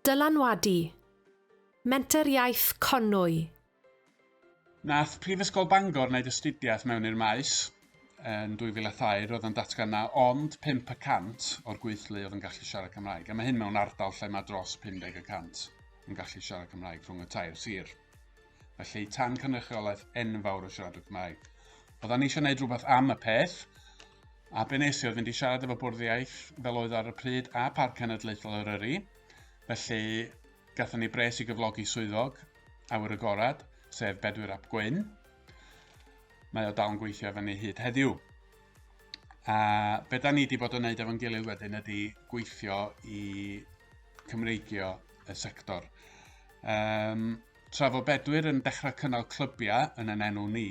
Dylanwadu, Menter Iaith Conwy. Nath Prifysgol Bangor wneud astudiaeth mewn i'r maes yn 2002, roedd o'n datgan na ond 5 y cant o'r gweithlu oedd yn gallu siarad Cymraeg, a mae hyn mewn ardal lle mae dros 50 y cant yn gallu siarad Cymraeg rhwng y tair sir. Felly, tan cynrychiolaeth enfawr o siaradwyr Cymraeg. Oeddan ni eisiau gwneud rhywbeth am y peth, a be nes i oedd fynd i siarad efo bwrdd iaith fel oedd ar y pryd a Parc Cenedlaethol Eryri. Felly, gatho ni bres i gyflogi swyddog awyr agorad, sef Bedwyr Ap Gwyn. Mae o dal yn gweithio efo ni hyd heddiw. A be da ni wedi bod yn wneud efo'n gilydd wedyn ydy gweithio i Cymreigio y sector. Um, Tra fo Bedwyr yn dechrau cynnal clybiau yn yn enw ni,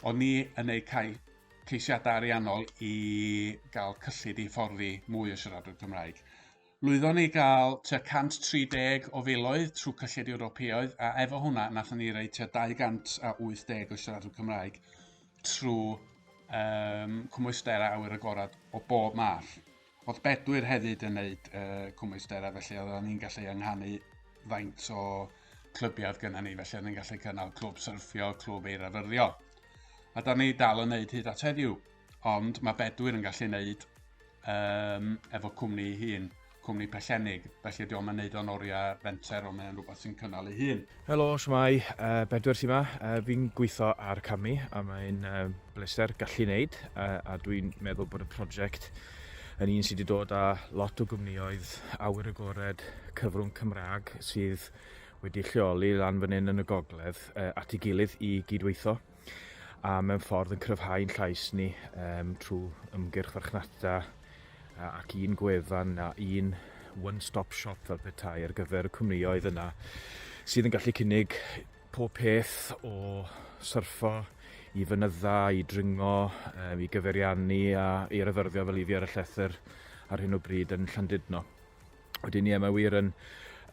o'n ni yn eu cael ceisiadau ariannol i gael cyllid i fforddi mwy o siaradwyr Cymraeg. Lwyddon ni gael tua 130 o filoedd trwy cyllid Ewropeoedd a efo hwnna nathon ni roi tua 280 o siaradwyr Cymraeg trwy um, cwmwysder a awyr agored o bob math. Oedd Bedwyr hefyd yn neud uh, cwmwystera, felly oedden ni'n gallu ynghanu faint o clybiad gyda ni, felly oedden ni'n gallu cynnal clwb syrffio, clwb eirafyrddio. A da ni dal yn neud hyd at heddiw, ond mae Bedwyr yn gallu neud um, efo cwmni hun, cwmni pellennig, felly diolch yn neud o'n oriau fenter, ond mae'n rhywbeth sy'n cynnal ei hun. Helo, shwmae, Bedwyr sy 'ma. Fi'n gweithio ar Camu a mae'n bleser gallu wneud a dwi'n meddwl bod y prosiect yn un sydd wedi dod â lot o gwmnioedd awyr agored cyfrwng Cymraeg sydd wedi lleoli lan fan hyn yn y gogledd at ei gilydd i gydweithio. a mewn ffordd yn cryfhau'n llais ni um, trwy ymgyrch farchnata ac un gwefan a un one-stop shop fel petai ar gyfer y cwmnioedd yna sydd yn gallu cynnig pob peth o syrffo i fynydda, i dringo, um, i gyferiannu a i ryfyrddio fel i fi ar y llethr ar hyn o bryd yn Llandudno. Wedyn ie, mae wir yn,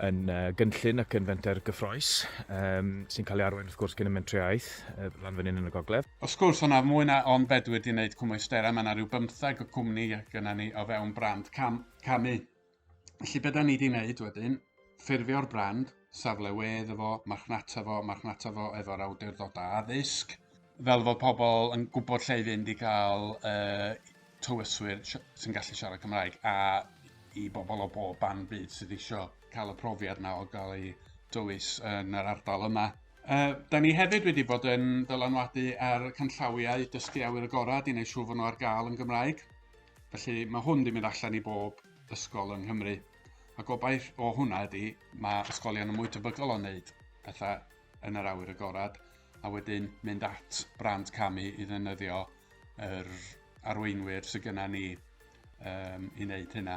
yn uh, gynllun ac yn fenter gyffroes, um, sy'n cael ei arwain wrth gwrs gen y mentriaeth, uh, lan fan hyn yn y gogledd. Wrth gwrs, hwnna mwy na ond fedw wedi wneud cwmwystera, mae yna rhyw bymthag o cwmni gyda ni o fewn brand cam, camu. Felly beth da ni wedi wneud wedyn, ffurfio'r brand, safle wedd efo, marchnata fo, marchnata fo efo'r awdurdodau addysg, fel fod pobl yn gwybod lle i fynd i gael uh, tywyswyr sy'n gallu siarad Cymraeg a i bobl o bob ban byd sydd eisiau cael y profiad yna o gael ei dywys yn yr ardal yma. Uh, da ni hefyd wedi bod yn dylanwadu ar canllawiau dysgu awyr agored i wneud siŵr fod nhw ar gael yn Gymraeg. Felly mae hwn wedi mynd allan i bob ysgol yng Nghymru. A gobaith o hwnna ydy, mae ysgolion yn mwy tebygol o wneud pethau yn yr awyr agored a wedyn mynd at brand camu i ddefnyddio yr arweinwyr sydd gyda ni um, i wneud hynna.